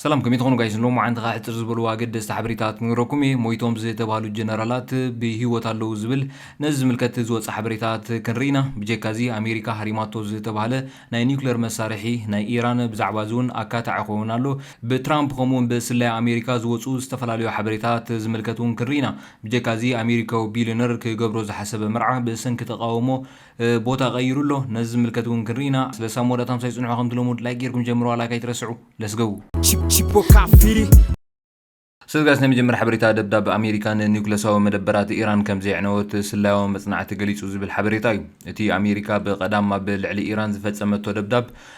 ሰላም ከመይ ትኾኑ ጋይስ ሎምዓንቲ ከኣ ሕጽር ዝበሉ ኣገደስቲ ሓበሬታት ክነግረኩም እየ ሞይቶም ዝተባህሉ ጀነራላት ብሂወት ኣለዉ ዝብል ነዚ ዝምልከት ዝወጸ ሓበሬታት ክንርኢ ኢና ብጀካ እዚ ኣሜሪካ ሃሪማቶ ዝተባህለ ናይ ኒኩለር መሳርሒ ናይ ኢራን ብዛዕባ እዚ ውን ኣካታዒ ክኸውን ኣሎ ብትራምፕ ከምኡ ውን ብስለያ ኣሜሪካ ዝወጹ ዝተፈላለዩ ሓበሬታት ዝምልከት ውን ክንርኢ ኢና ብጀካ እዚ ኣሜሪካዊ ቢልዮነር ክገብሮ ዝሓሰበ መርዓ ብሰንኪ ተቃውሞ ቦታ ቀይሩ ኣሎ ነዚ ዝምልከት ውን ክንሪኢ ኢና ስለ ሳሞራ ታምሳይ ጽንሑ ከምቲ ሎሙድ ላይክ ጌርኩም ጀምርዋ ላይክ ኣይትረስዑ let's go ሰዝጋስ ናይ መጀመርያ ሓበሬታ ደብዳብ ኣሜሪካ ንኒውክለሳዊ መደበራት ኢራን ከም ዘየዕነወት ስላያዊ መጽናዕቲ ገሊጹ ዝብል ሓበሬታ እዩ። እቲ ኣሜሪካ ብቀዳም ኣብ ልዕሊ ኢራን ዝፈጸመቶ ደብዳብ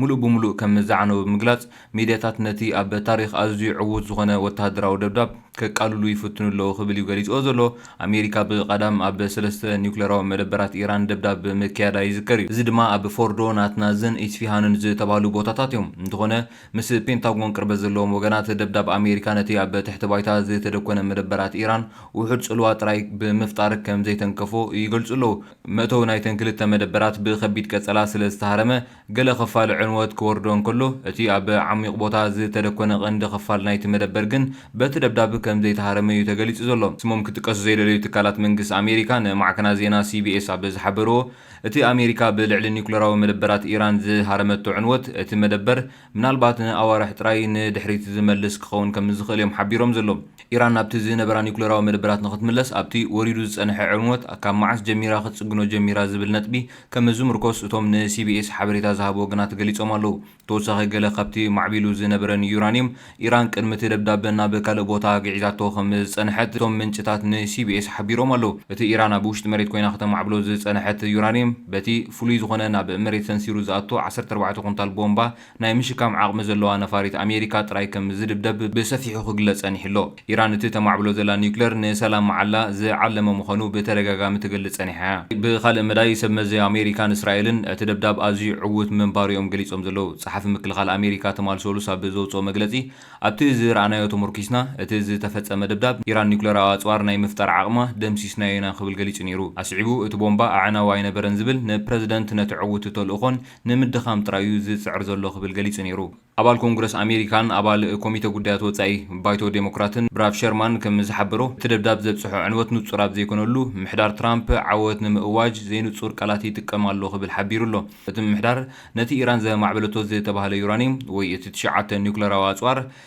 ምሉእ ብምሉእ ከም ዝዓነወ ብምግላጽ፣ ሚድያታት ነቲ ኣብ ታሪኽ ኣዝዩ ዕዉት ዝኾነ ወተሃደራዊ ደብዳብ ከቃልሉ ይፍትኑ ኣለዉ ክብል እዩ ገሊጽዎ ዘሎ። ኣሜሪካ ብቐዳም ኣብ ሰለስተ ኒዩክለራዊ መደበራት ኢራን ደብዳብ ምክያዳ ይዝከር እዩ። እዚ ድማ ኣብ ፎርዶ፣ ናትናዝን ኢስፊሃንን ዝተባህሉ ቦታታት እዮም። እንተኾነ ምስ ፔንታጎን ቅርበት ዘለዎም ወገናት፣ ደብዳብ ኣሜሪካ ነቲ ኣብ ትሕቲ ባይታ ዝተደኮነ መደበራት ኢራን ውሑድ ጽልዋ ጥራይ ብምፍጣር ከም ዘይተንከፎ ይገልጹ ኣለዉ። መእተዊ ናይተን ክልተ መደበራት ብከቢድ ቀጸላ ስለ ዝተሃረመ፣ ገለ ኽፋል ዕንወት ክወርዶ እንከሎ፣ እቲ ኣብ ዓሚቕ ቦታ ዝተደኮነ ቀንዲ ኽፋል ናይቲ መደበር ግን በቲ ደብዳብ ከም ዘይተሃረመ እዩ ተገሊጹ ዘሎ። ስሞም ክጥቀሱ ዘይደለዩ ትካላት መንግስ ኣሜሪካ ንማዕከናት ዜና ሲቢኤስ ኣብ ዝሓበርዎ፣ እቲ ኣሜሪካ ብልዕሊ ኒዩክለራዊ መደበራት ኢራን ዝሃረመቶ ዕንወት፣ እቲ መደበር ምናልባት ንኣዋርሕ ጥራይ ንድሕሪት ዝመልስ ክኸውን ከም ዝኽእል እዮም ሓቢሮም ዘለዉ። ኢራን ናብቲ ዝነበራ ኒዩክለራዊ መደበራት ንኽትምለስ፣ ኣብቲ ወሪዱ ዝጸንሐ ዕንወት ካብ መዓስ ጀሚራ ክትጽግኖ ጀሚራ ዝብል ነጥቢ፣ ከም ዝምርኮስ እቶም ንሲቢኤስ ሓበሬታ ዝሃቡ ወገናት ገሊጾም ኣለዉ። ብተወሳኺ ገለ ካብቲ ማዕቢሉ ዝነበረ ንዩራንዩም፣ ኢራን ቅድሚ እቲ ደብዳበ ናብ ካልእ ቦታ ግዒዛቶ ከም ዝጸንሐት እቶም ምንጭታት ንሲቢኤስ ሓቢሮም ኣለዉ። እቲ ኢራን ኣብ ውሽጢ መሬት ኰይና ከተማዕብሎ ዝጸንሐት ዩራንዩም፣ በቲ ፍሉይ ዝዀነ ናብ መሬት ሰንሲሩ ዝኣቱ ዓሰርተ ኣርባዕተ ኩንታል ቦምባ ናይ ምሽካም ዓቕሚ ዘለዋ ነፋሪት ኣሜሪካ ጥራይ ከም ዝድብደብ ብሰፊሑ ክግለጽ ጸኒሑ ኣሎ። ኢራን እቲ ተማዕብሎ ዘላ ኒዩክለር ንሰላም መዓላ ዝዓለመ ምዃኑ ብተደጋጋሚ ትገልጽ ጸኒሓ እያ። ብኻልእ መዳይ ሰብ መዚ ኣሜሪካን እስራኤልን እቲ ደብዳብ ኣዝዩ ዕዉት ምንባሩ እዮም ገሊጾም ዘለዉ። ጸሓፊ ምክልኻል ኣሜሪካ ትማል ሰሉስ ኣብ ዘውጽኦ መግለጺ ኣብቲ ዝረኣናዮ ተሞርኪስና እቲ ዝተፈጸመ ደብዳብ ኢራን ኒዩክለራዊ ኣጽዋር ናይ ምፍጣር ዓቕማ ደምሲስናዮ ኢና ክብል ገሊጹ ነይሩ። ኣስዒቡ እቲ ቦምባ ኣዕናዊ ኣይነበረን ዝብል ንፕረዚደንት ነቲ ዕዉት ተልእኾን ንምድኻም ጥራይ'ዩ ዝጽዕር ዘሎ ክብል ገሊጹ ነይሩ። ኣባል ኮንግረስ ኣሜሪካን ኣባል ኮሚተ ጉዳያት ወጻኢ ባይቶ ዴሞክራትን ብራድ ሸርማን ከም ዝሓበሮ፣ እቲ ደብዳብ ዘብጽሖ ዕንወት ንጹር ኣብ ዘይኮነሉ፣ ምምሕዳር ትራምፕ ዓወት ንምእዋጅ ዘይንጹር ቃላት ይጥቀም ኣሎ ክብል ሓቢሩ ኣሎ። እቲ ምምሕዳር፣ ነቲ ኢራን ዘማዕበለቶ ዝተባህለ ዩራንዩም ወይ እቲ ትሽዓተ ኒዩክለራዊ ኣጽዋር፣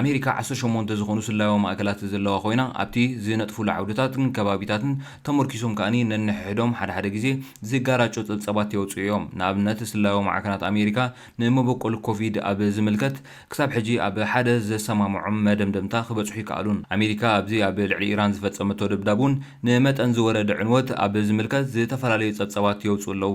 ኣሜሪካ ዓሰርተ ሸሞንተ ዝኾኑ ስለያዊ ማእከላት ዘለዋ ኮይና፣ ኣብቲ ዝነጥፉሉ ዓውድታትን ከባቢታትን ተመርኲሶም ከኣ ነንሕሕዶም ሓደ ሓደ ግዜ ዝጋራጮ ጸብጻባት የውጽኡ እዮም። ንኣብነት ስለያዊ ማዕከናት ኣሜሪካ ንመበቆል ኮቪድ ኣብ ዝምልከት ክሳብ ሕጂ ኣብ ሓደ ዘሰማምዖም መደምደምታ ክበጽሑ ኣይከኣሉን። ኣሜሪካ ኣብዚ ኣብ ልዕሊ ኢራን ዝፈጸመቶ ደብዳብ'ውን ንመጠን ዝወረደ ዕንወት ኣብ ዝምልከት ዝተፈላለዩ ጸብጻባት የውጽኡ ኣለዉ።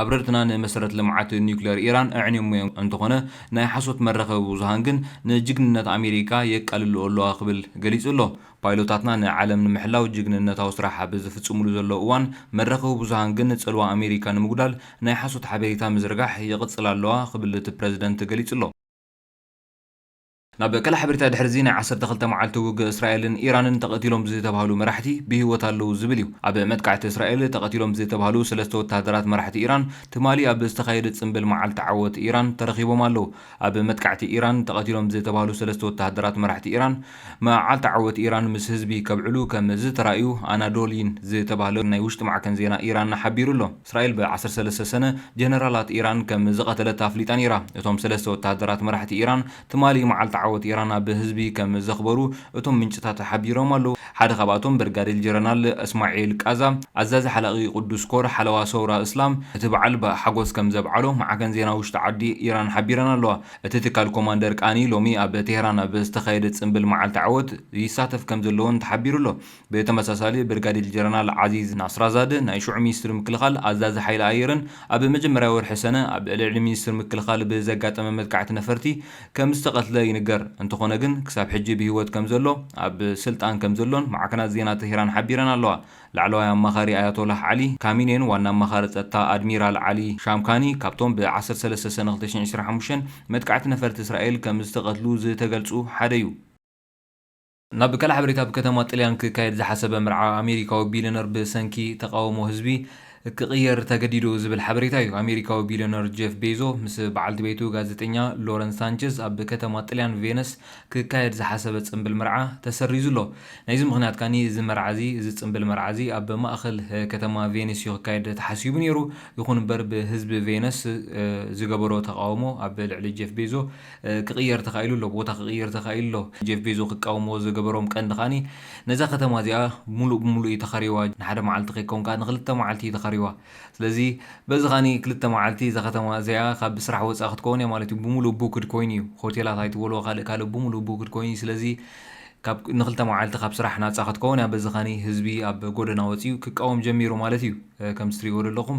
ኣብረርትና ንመሰረት ልምዓት ኒዩክሌር ኢራን ኣዕንዮሞ እዮም እንተኾነ ናይ ሓሶት መራኸቢ ብዙሃን ግን ንጅግንነት ኣሜሪካ የቃልልኦ ኣለዋ ክብል ገሊጹ ኣሎ። ፓይሎታትና ንዓለም ንምሕላው ጅግንነታዊ ስራሕ ኣብ ዝፍጽምሉ ዘለዉ እዋን መራኸቢ ብዙሃን ግን ጽልዋ ኣሜሪካ ንምጉዳል ናይ ሓሶት ሓበሬታ ምዝርጋሕ ይቕጽላ ኣለዋ ክብል እቲ ፕረዚደንት ገሊጹ ኣሎ። ናብ ካልእ ሓበሬታ ድሕሪ'ዚ ናይ ዓሰርተ ክልተ መዓልቲ ውግእ እስራኤልን ኢራንን ተቐቲሎም ዝተብሃሉ መራሕቲ ብህይወት ኣለዉ ዝብል እዩ። ኣብ መጥቃዕቲ እስራኤል ተቐቲሎም ዝተብሃሉ ሰለስተ ወተሃደራት መራሕቲ ኢራን ትማሊ ኣብ ዝተኻየደ ጽምብል መዓልቲ ዓወት ኢራን ተረኺቦም ኣለዉ። ኣብ መጥቃዕቲ ኢራን ተቐቲሎም ዝተብሃሉ ሰለስተ ወተሃደራት መራሕቲ ኢራን መዓልቲ ዓወት ኢራን ምስ ህዝቢ ከብዕሉ ከም ዝተራእዩ ኣናዶሊን ዝተብሃለ ናይ ውሽጢ ማዕከን ዜና ኢራን ሓቢሩ ኣሎ። እስራኤል ብ ዓሰርተ ሰለስተ ሰነ ጀነራላት ኢራን ከም ዝቐተለት ኣፍሊጣ ነይራ። እቶም ሰለስተ ወተሃደራት መራሕቲ ኢራን ትማሊ መዓልቲ ዓወት ኢራን ኣብ ህዝቢ ከም ዘኽበሩ እቶም ምንጭታት ሓቢሮም ኣለዉ። ሓደ ካብኣቶም ብርጋዴር ጀረናል እስማዒል ቃዛ፣ ኣዛዚ ሓላቒ ቅዱስ ኮር ሓለዋ ሰውራ እስላም፣ እቲ በዓል ብ ሓጎስ ከም ዘብዓሎ ማዕከን ዜና ውሽጢ ዓዲ ኢራን ሓቢረን ኣለዋ። እቲ ትካል ኮማንደር ቃኒ ሎሚ ኣብ ቴህራን ኣብ ዝተኻየደ ጽንብል መዓልቲ ዓወት ይሳተፍ ከም ዘለዎን ተሓቢሩ ኣሎ። ብተመሳሳሊ ብርጋዴል ጀረናል ዓዚዝ ናስራዛደ ናይ ሽዑ ሚኒስትሪ ምክልኻል ኣዛዚ ሓይሊ ኣየርን ኣብ መጀመርያ ወርሒ ሰነ ኣብ ልዕሊ ሚኒስትሪ ምክልኻል ብዘጋጠመ መጥቃዕቲ ነፈርቲ ከምዝተቐትለ ይንገር። እንተኾነ ግን ክሳብ ሕጂ ብህይወት ከምዘሎ ኣብ ስልጣን ከምዘሎን ማዕከናት ዜና ተህራን ሓቢረን ኣለዋ። ላዕለዋይ ኣማኻሪ ኣያቶላህ ዓሊ ካሚኔን ዋና ኣማኻሪ ጸጥታ ኣድሚራል ዓሊ ሻምካኒ ካብቶም ብ ዓሰርተ ሰለስተ ሰነ ክልተ ሽሕን ዕስራን ሓሙሽተን መጥቃዕቲ ነፈርቲ እስራኤል ከምዝተቐትሉ ዝተገልጹ ሓደ'ዩ። ናብ ካልእ ሓበሬታ ኣብ ከተማ ጥልያን ክካየድ ዝሓሰበ መርዓ ኣሜሪካዊ ቢልዮነር ብሰንኪ ተቓውሞ ህዝቢ ክቕየር ተገዲዱ ዝብል ሓበሬታ እዩ። ኣሜሪካዊ ቢልዮነር ጄፍ ቤዞ ምስ በዓልቲ ቤቱ ጋዜጠኛ ሎረን ሳንቸዝ ኣብ ከተማ ጥልያን ቬነስ ክካየድ ዝሓሰበ ጽንብል መርዓ ተሰሪዙ ኣሎ። ናይዚ ምኽንያት ከኣ እዚ መርዓ እዚ እዚ ጽንብል መርዓ እዚ ኣብ ማእከል ከተማ ቬኒስ እዩ ክካየድ ተሓሲቡ ነይሩ። ይኹን እምበር ብህዝቢ ቬነስ ዝገበሮ ተቓውሞ ኣብ ልዕሊ ጄፍ ቤዞ ክቕየር ተኻኢሉ ኣሎ፣ ቦታ ክቕይር ተኻኢሉ ኣሎ። ጀፍ ቤዞ ክቃወምዎ ዝገበሮም ቀንዲ ከኣ ነዛ ከተማ እዚኣ ምሉእ ብምሉእ እዩ ተኻርይዋ፣ ንሓደ መዓልቲ ከይከውን ከኣ ንኽልተ መዓልቲ እዩ ተኻርይዋ። ስለዚ በዚ ከኣ ክልተ መዓልቲ እዛ ከተማ እዚኣ ካብ ስራሕ ወጻኢ ክትከውን እያ ማለት እዩ። ብምሉእ ቡክድ ኮይኑ እዩ፣ ሆቴላት ኣይትበልዎ ካልእ ካልእ ብምሉእ ቡክድ ኮይኑ እዩ። ስለዚ ካብ ንኽልተ መዓልቲ ካብ ስራሕ ናጻ ክትከውን እያ። በዚ ከኣ ህዝቢ ኣብ ጎደና ወጺኡ ክቃወም ጀሚሩ ማለት እዩ፣ ከምቲ ትርእይዎ ዘለኹም።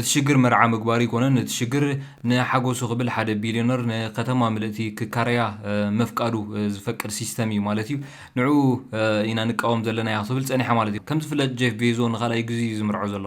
እቲ ሽግር መርዓ ምግባሩ ኣይኮነን እቲ ሽግር ንሓጎሱ ክብል ሓደ ቢልዮነር ንከተማ ምልእቲ ክካረያ ምፍቃዱ ዝፈቅድ ሲስተም እዩ ማለት እዩ ንዑኡ ኢና ንቃወም ዘለናዮ ክትብል ጸኒሓ ማለት እዩ ከም ዝፍለጥ ጄፍ ቤዞ ንካልኣይ ግዚ እዩ ዝምርዖ ዘሎ።